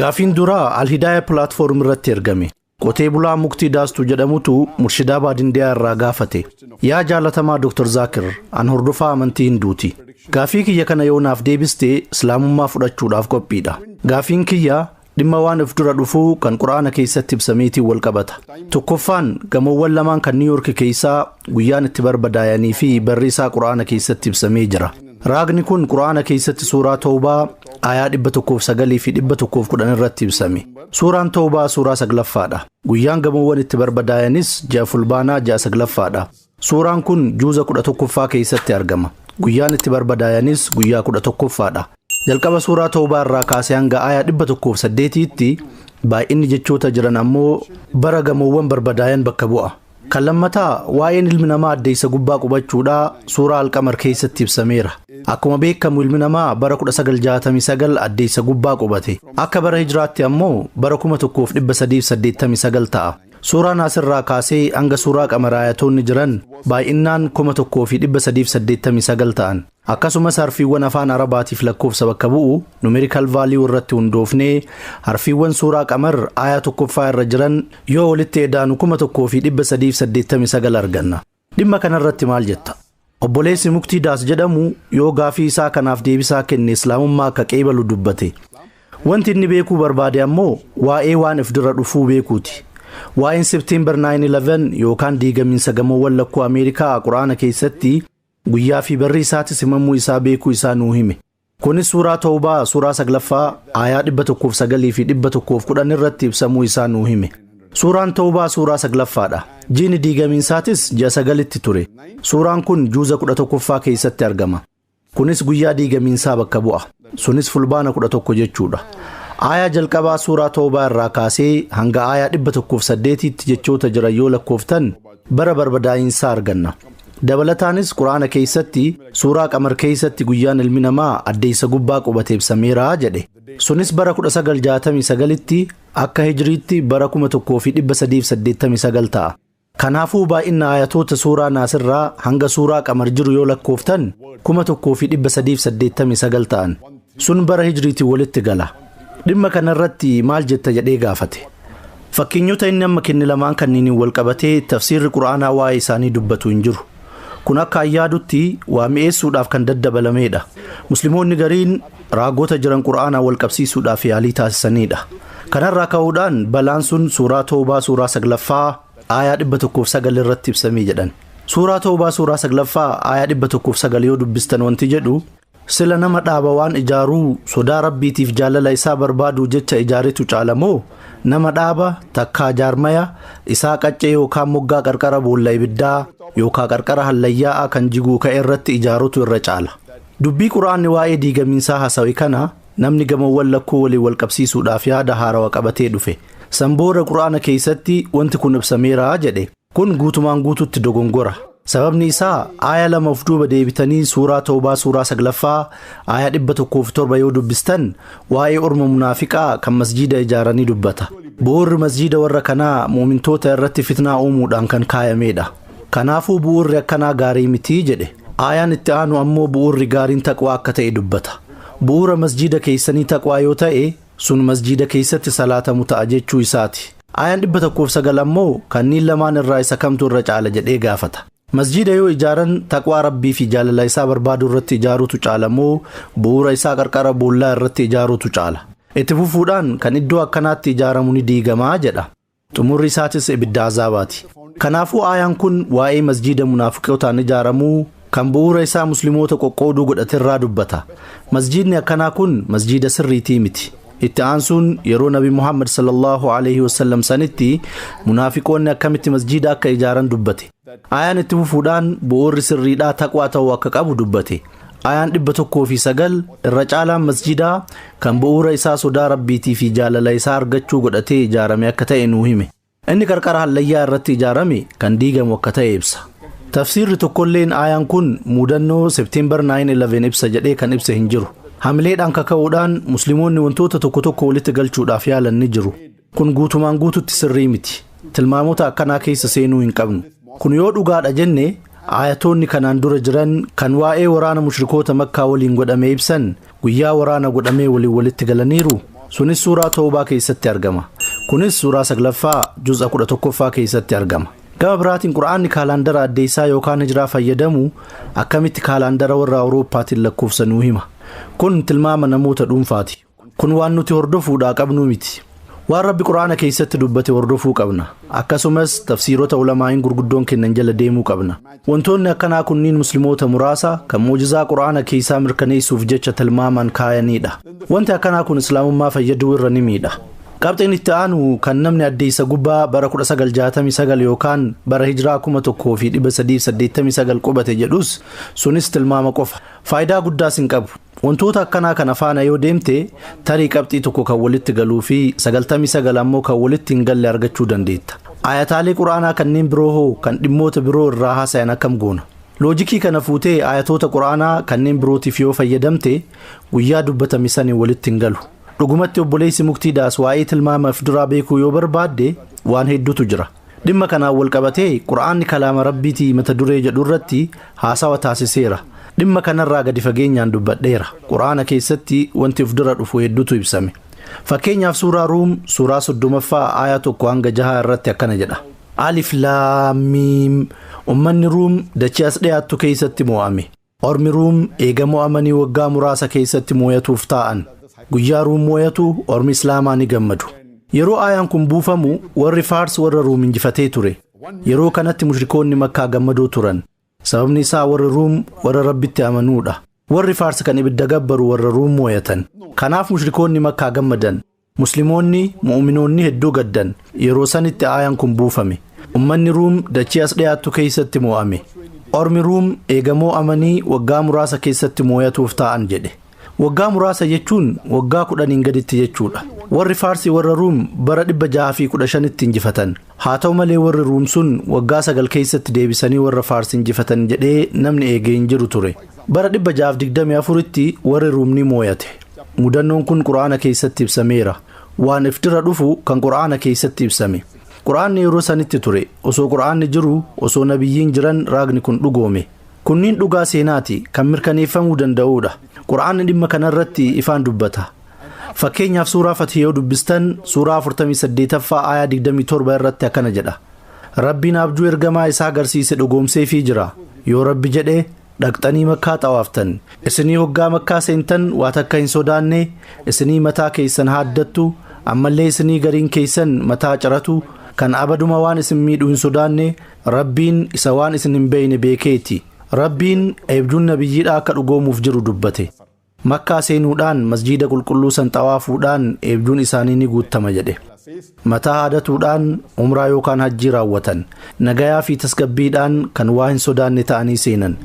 Gaafiin duraa Alhidaaya pilaatfoorm irratti ergame. Qotee bulaa muktii daastu jedhamutu murshidaa baadindiyaa irraa gaafate. Yaa jaalatamaa Dr. Zaakir, an hordofaa amantii hinduuti. Gaafii kiyya kana yoo naaf deebiste islaamummaa fudhachuudhaaf qophiidha. Gaafiin kiyya dhimma waan of dura dhufuu kan qur'aana keessatti ibsameetiin wal qabata. Tokkoffaan gamoowwan lamaan kan Niiw Yoorki keessaa guyyaan itti barbadaayanii fi barri isaa qur'aana keessatti ibsamee jira. Raagni kun Qur'aana keessatti suuraa Tawbaa aayaa 109 fi 110 irratti ibsame. Suuraan Tawbaa suuraa saglaffaadha. Guyyaan gamoowwan itti barbadaayanis ja'a fulbaanaa ja'a saglaffaadha. Suuraan kun juuza 11ffaa keessatti argama. Guyyaan itti barbadaayanis guyyaa 11ffaadha. Jalqaba suuraa Tawbaa irraa kaasee hanga aayaa 108tti baay'inni jechoota jiran ammoo bara gamoowwan barbadaayan bakka bu'a. Kan lammataa waa'een ilmi namaa addeessa gubbaa qubachuudha suuraa alqamar keessatti ibsameera. Akkuma beekamu ilmi namaa bara 1969 addeessa gubbaa qubate. Akka bara hijraatti ammoo bara 1389 ta'a. Suuraa naasirraa kaasee hanga suuraa qamaraayatoonni jiran baay'innaan 1389 ta'an. Akkasumas harfiiwwan afaan Arabaatiif lakkoofsa bakka bu'u, numerical value, irratti hundoofnee harfiiwwan suuraa Qamar aayah 1ffaa irra jiran yoo walitti edaanu 1389 arganna. Dhimma kana irratti maal jetta? Obboleessi Muktii Daas jedhamu yoo gaafii isaa kanaaf deebisaa kenne Islaamummaa akka qeebalu dubbate. Wanti inni beekuu barbaade ammoo waa'ee waan if dura dhufuu beekuuti. Waa'een September 9/11 yookaan diigamiinsa gamoowwan lakkuu Ameerikaa Qur'aana keessatti Guyyaa fi barri isaatis himamuu isaa beekuu isaa nuu hime. Kunis suuraa Tawbaa suuraa 9ffaa aayaa 109 fi 110 irratti ibsamuu isaa nuu hime. Suuraan Tawbaa suuraa 9ffaadha. Jiini diigamiinsaatis ji'a 9tti ture. Suuraan kun juuza 11ffaa keessatti argama. Kunis guyyaa diigamiinsaa bakka bu'a. Sunis fulbaana 11 jechuudha. Aayaa jalqabaa suuraa Tawbaa irraa kaasee hanga aayaa 108tti jechoota jiran yoo lakkooftan bara barbadaa'insaa arganna. Dabalataanis Qur'aana keessatti suuraa qamar keessatti guyyaan ilmi namaa addeessa gubbaa qubate ibsameera jedhe. Sunis bara 1969tti akka hijriitti bara 1389 ta'a. Kanaafuu baay'ina ayatoota suuraa naasirraa hanga suuraa qamar jiru yoo lakkooftan 1389 ta'an. Sun bara Hijriitiin walitti gala. Dhimma kana irratti maal jetta jedhee gaafate. Fakkeenyota inni amma kenne lamaan kanniiniin wal qabatee tafsiirri Qur'aanaa waa'ee isaanii dubbatu hin jiru. Kun akka an yaadutti waa mi'eessuudhaaf kan daddabalameedha. Muslimoonni gariin raagota jiran Qur'aanaa wal qabsiisuudhaaf yaalii taasisaniidha. Kanarraa ka'uudhaan balaan sun suuraa Toobaa suuraa saglaffaa aayaa 109 irratti ibsamee jedhan. Suuraa Toobaa suuraa saglaffaa aayaa 109 yoo dubbistan wanti jedhu Sila nama dhaaba waan ijaaruu sodaa rabbiitiif jaalala isaa barbaaduu jecha ijaaretu caala moo nama dhaaba takkaa jaarmaya isaa qaccee yookaan moggaa qarqara boolla ibiddaa yookaan qarqara hallayyaa'aa kan jiguu ka'e irratti ijaarutu irra caala. Dubbii quraanni waa'ee diigamiinsaa hasawe kana namni gamoowwan lakkuu waliin wal qabsiisuudhaaf yaada haarawa qabatee dhufe. San booda quraana keessatti wanti kun ibsameera jedhe. Kun guutumaan guutuutti dogongora. Sababni isaa aaya lama of duuba deebitanii suuraa Tawbaa suuraa 9ffaa aaya 107 yoo dubbistan waa'ee orma munaafiqaa kan masjiida ijaaranii dubbata. Bu'uurri masjiida warra kanaa mu'mintoota irratti fitnaa uumuudhaan kan kaayameedha. Kanaafuu bu'uurri akkanaa gaarii miti jedhe. Aayaan itti aanu ammoo bu'uurri gaariin taqwaa akka ta'e dubbata. Bu'uura masjiida keessanii taqwaa yoo ta'e Sun masjiida keessatti salaatamu ta'a jechuu isaati. Aayaan 109 ammoo kanniin lamaan irraa isa kamtu irra caala jedhee gaafata. Masjiida yoo ijaaran taqwaa Rabbii fi jaalala isaa barbaaduu irratti ijaaruutu caala moo bu'uura isaa qarqara boollaa irratti ijaaruutu caala? Itti fufuudhaan kan iddoo akkanaatti ijaaramu ni diigama jedha. xumurri isaatis ibidda azaabaati. Kanaafuu aayaan kun waa'ee masjiida munaafiqotaan ijaaramuu kan bu'uura isaa muslimoota qoqqooduu godhate irraa dubbata. Masjiidni akkanaa kun masjiida sirriitii miti. Itti aansuun yeroo Nabi Muhammad sallallahu aleyhi wasallam sanitti munaafiqoonni akkamitti masjiida akka ijaaran dubbate. Aayaan itti fufuudhaan bu'uurri sirriidhaa taqwaa ta'uu akka qabu dubbate. Aayaan 109 irra caalaan masjiidaa kan bu'uura isaa sodaa Rabbiitii fi jaalala isaa argachuu godhatee ijaarame akka ta'e nuu hime. Inni qarqara hallayyaa irratti ijaarame kan diigamu akka ta'e ibsa. Tafsiirri tokkolleen aayaan kun muudannoo September 9/11 ibsa jedhee kan ibse hin jiru. Hamileedhaan kaka'uudhaan Muslimoonni wantoota tokko tokko walitti galchuudhaaf yaalan ni jiru. Kun guutumaan guututti sirrii miti. Tilmaamota akkanaa keessa seenuu hin qabnu. Kun yoo dhugaadha jenne aayatoonni kanaan dura jiran kan waa'ee waraana mushrikoota Makkaa waliin godhame ibsan guyyaa waraana godhamee waliin walitti galaniiru. Sunis suuraa Tawbaa keessatti argama. Kunis suuraa 9ffaa juz'a 11ffaa keessatti argama. Gama biraatiin Qur'aanni kaalaandara addeessaa yookaan hijraa fayyadamu akkamitti kaalaandara warra Awurooppaatiin lakkoofsa nuu hima. Kun tilmaama namoota dhuunfaati. Kun waan nuti hordofuudhaa qabnuu miti. Waan Rabbi Qur'aana keessatti dubbate hordofuu qabna. Akkasumas tafsiirota ulamaa'iin gurguddoon kennan jala deemuu qabna. Wantoonni akkanaa kunniin muslimoota muraasa kan mu'jizaa Qur'aana keessaa mirkaneessuuf jecha tilmaamaan kaayaniidha. Wanti akkanaa kun Islaamummaa fayyaduu irra ni miidha. Qabxiin itti aanu kan namni addeessa gubbaa bara 1969 yookaan bara hijraa 1389 qubate jedhus sunis tilmaama qofa. Faayidaa guddaas hin qabu. Wantoota akkanaa kana faana yoo deemte tarii qabxii tokko kan walitti galuu fi 99 ammoo kan walitti hin galle argachuu dandeetta. Aayataalee Qur'aanaa kanneen biroo hoo kan dhimmoota biroo irraa haasayan akkam goona? Loojikii kana fuutee aayatoota Qur'aanaa kanneen birootiif yoo fayyadamte guyyaa dubbatame saniin walitti hin galu. Dhugumatti obboleessi Muktii Daas waa'ee tilmaama if duraa beekuu yoo barbaadde waan hedduutu jira. Dhimma kanaan wal qabatee Qur'aanni kalaama Rabbiiti mata duree jedhu irratti haasawa taasiseera. Dhimma kanarraa gadi fageenyaan dubbadheera. Qur'aana keessatti wanti of dura dhufu hedduutu ibsame. Fakkeenyaaf suuraa Ruum suuraa 30ffaa aayaa 1 hanga 6 irratti akkana jedha. Alif Laam Miim Ummanni Ruum dachii as dhiyaattu keessatti mo'ame. Ormi Ruum eega mo'amanii waggaa muraasa keeysatti mooyatuuf taa'an. Guyyaa Ruum mooyatu ormi Islaamaa ni gammadu. Yeroo aayaan kun buufamu warri Faars warra Ruum injifatee ture. Yeroo kanatti mushrikoonni Makkaa gammadoo turan. Sababni isaa warri Ruum warra Rabbitti amanuudha. Warri Faars kan ibidda gabbaru warra Ruum mooyatan. Kanaaf mushrikoonni Makkaa gammadan. Muslimoonni, mu'uminoonni hedduu gaddan. Yeroo sanitti aayaan kun buufame. Ummanni Ruum dachii as dhiyaattu keessatti moo'ame. Ormi Ruum eega moo'amanii waggaa muraasa keessatti mooyatuuf taa'an jedhe. Waggaa muraasa jechuun waggaa kudhaniin gaditti jechuudha. Warri Faarsi warra Ruum bara 615tti injifatan. Haa ta'u malee warri Ruum sun waggaa sagal keessatti deebisanii warra Faars injifatan jedhee namni eegee hin jiru ture. Bara 624tti warri Ruum ni mooyate. Mudannoon kun Qur'aana keessatti ibsameera. Waan if dura dhufu kan Qur'aana keessatti ibsame. Qur'aanni yeroo sanitti ture. Osoo Qur'aanni jiru, osoo nabiyyiin jiran raagni kun dhugoome. Kunniin dhugaa seenaati kan mirkaneeffamuu danda'uudha. Qur'aanni dhimma kanarratti ifaan dubbata. Fakkeenyaaf suuraa Fathi yoo dubbistan suuraa 48ffaa aayaa 27 irratti akkana jedha. Rabbiin abjuu ergamaa isaa garsiise dhugoomseefii jira. Yoo Rabbi jedhe dhaqxanii makkaa xawaaftan. Isinii hoggaa makkaa seentan waa takka hin sodaanne isinii mataa keeysan haaddattu ammallee isinii gariin keeysan mataa ciratu kan abaduma waan isin miidhu hin sodaanne Rabbiin isa waan isin hin beeyne beekeeti. Rabbiin eebjuun nabiyyiidhaa akka dhugoomuuf jiru dubbate. Makkaa seenuudhaan masjiida qulqulluu san xawaafuudhaan eebjuun isaanii ni guuttama jedhe. Mataa haadatuudhaan umraa yookaan hajjii raawwatan. Nagayaa fi tasgabbiidhaan kan waa hin sodaanne ta'anii seenan.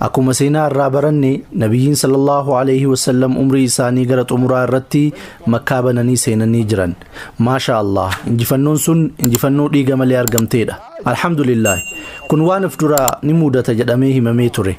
Akkuma seenaa irraa baranne Nabiyyiin sallallahu alayhi wa sallam umrii isaanii gara xumuraa irratti Makkaa bananii seenanii jiran. Maashaa Allah injifannoon sun injifannoo dhiiga malee argamteedha. Alhamdulillaahi kun waan if dura ni muudata jedhamee himamee ture.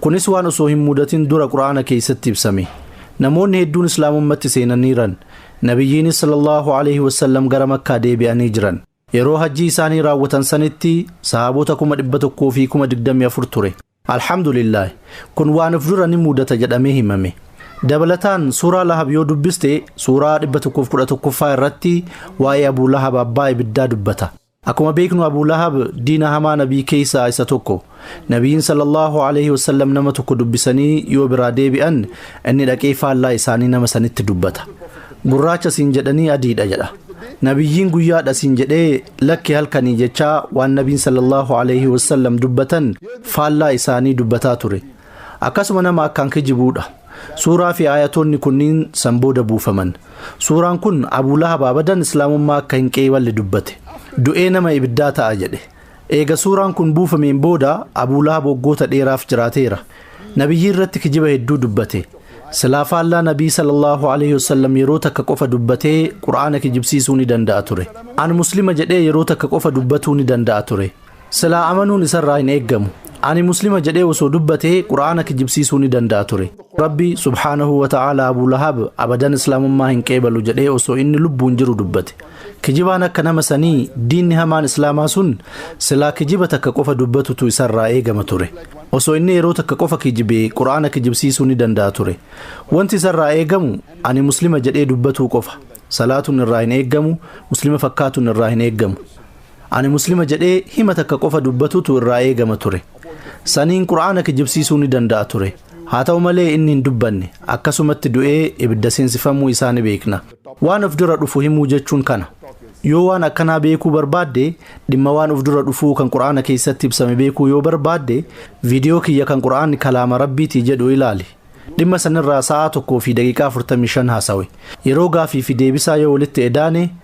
Kunis waan osoo hin mudatin dura Qur'aana keessatti ibsame. Namoonni hedduun Islaamummatti seenaniiran. Nabiyyiinis sallallaahu aleeyhi wasallam gara Makkaa deebi'anii jiran. Yeroo hajjii isaanii raawwatan sanitti sahaabota 124,000 ture. Alhamdulillaahi! Kun waan of dura ni mudata jedhamee himame. Dabalataan Suuraa Lahab yoo dubbiste Suuraa 111ffaa irratti waa'ee Abuu Lahab abbaa ibiddaa dubbata. Akkuma beeknu Abuu Lahab diina hamaa Nabii keeysaa isa tokko. Nabiyyiin sallallahu alayhi wa sallam nama tokko dubbisanii yoo biraa deebi'an inni dhaqee faallaa isaanii nama sanitti dubbata. Gurraacha siin jedhanii adiidha jedha. Nabiyyiin guyyaadha siin jedhee lakki halkanii jechaa waan Nabiin sallallahu alayhi wa sallam dubbatan faallaa isaanii dubbataa ture. Akkasuma nama akkaan kijibuudha. Suuraa fi aayatoonni kunniin san booda buufaman. Suuraan kun Abuu Lahab abadan Islaamummaa akka hin qeeyballe dubbate. Du'ee nama ibiddaa ta'a jedhe. Eega suuraan kun buufameen booda Abuu Lahab waggoota dheeraaf jiraateera. Nabiyyii irratti kijiba hedduu dubbate. Silaa faallaa Nabii sallallahu alaihi wasallam yeroo takka qofa dubbatee Qur'aana kijibsiisuu ni danda'a ture. An Muslima jedhee yeroo takka qofa dubbatuu ni danda'a ture. Silaa amanuun isarraa hin eeggamu. Ani Muslima jedhee osoo dubbatee Qur'aana kijibsiisuu ni danda'a ture. Rabbi, subhaanahu wa ta'aala, Abuu Lahab abadan Islaamummaa hin qeebalu jedhee osoo inni lubbuun jiru dubbate. Kijibaan akka nama sanii, diinni hamaan Islaamaa sun, silaa kijiba takka qofa dubbatutu isarraa eegama ture. Osoo inni yeroo takka qofa kijibee Qur'aana kijibsiisuu ni danda'a ture. Wanti isarraa eegamu, ani Muslima jedhee dubbatuu qofa. Salaatuun irraa hin eeggamu, Muslima fakkaatuun irraa hin eeggamu. Ani Muslima jedhee hima takka qofa dubbatutu irraa eegama ture. Saniin Qur'aana kijibsiisuu ni danda'a ture. Haa ta'u malee inni hin dubbanne, akkasumatti du'ee ibidda seensifamuu isaa ni beekna. Waan of dura dhufu himuu jechuun kana. Yoo waan akkanaa beekuu barbaadde, dhimma waan of dura dhufuu kan Qur'aana keessatti ibsame beekuu yoo barbaadde, viidiyoo kiyya kan Qur'aanni kalaama Rabbiiti jedhu ilaali. Dhimma sanirraa sa'aa 1 fi daqiiqaa 45 haasawe. Yeroo gaafii fi deebisaa yoo walitti edaane,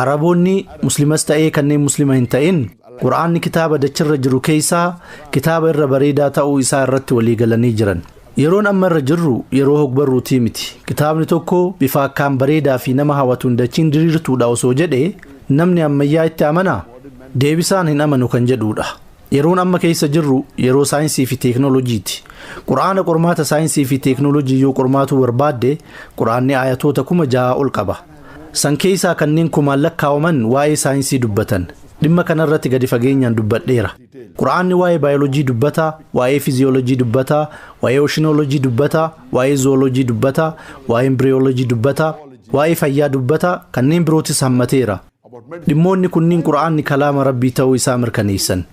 Araboonni muslimas ta'ee kanneen muslima hin ta'in qur'aanni kitaaba dachirra jiru keessaa kitaaba irra bareedaa ta'uu isaa irratti walii galanii jiran. Yeroon amma irra jirru yeroo hogbarruutii miti. Kitaabni tokko bifa akkaan bareedaa fi nama hawatuun dachiin diriirtuudha osoo jedhe namni ammayyaa itti amanaa? Deebisaan hin amanu kan jedhuudha. Yeroon amma keessa jirru yeroo saayinsii fi teeknooloojiiti. Qur'aana qormaata saayinsii fi teeknooloojii yoo qormaatuu barbaadde Qur'aanni aayatoota kuma jahaa ol qaba. San keessaa kanneen kumaan lakkaawaman waa'ee saayinsii dubbatan. Dhimma kanarratti gadi fageenyaan dubbadheera. Qur'aanni waa'ee baayoloojii dubbata, waa'ee fiziyooloojii dubbata, waa'ee oshinooloojii dubbata, waa'ee zuwooloojii dubbata, waa'ee imbriyooloojii dubbata, waa'ee fayyaa dubbata, kanneen birootis hammateera. Dhimmoonni kunniin Qur'aanni kalaama Rabbii ta'uu isaa mirkaneessan.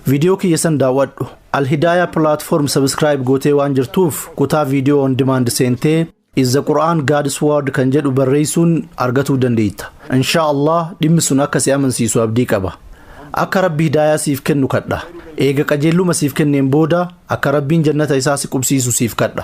Viidiyoo kiyya san daawwadhu. Al-Hidaaya platform subscribe gootee waan jirtuuf kutaa viidiyoo on demand seentee Is the Quran God's Word kan jedhu barreessuun argatuu dandeetta. Inshaa Allah dhimmi sun akka si amansiisu abdii qaba. Akka Rabbi hidaayaa siif kennu kadha. Eega qajeelluma siif kenneen booda akka Rabbiin jannata isaa si qubsiisu siif kadha.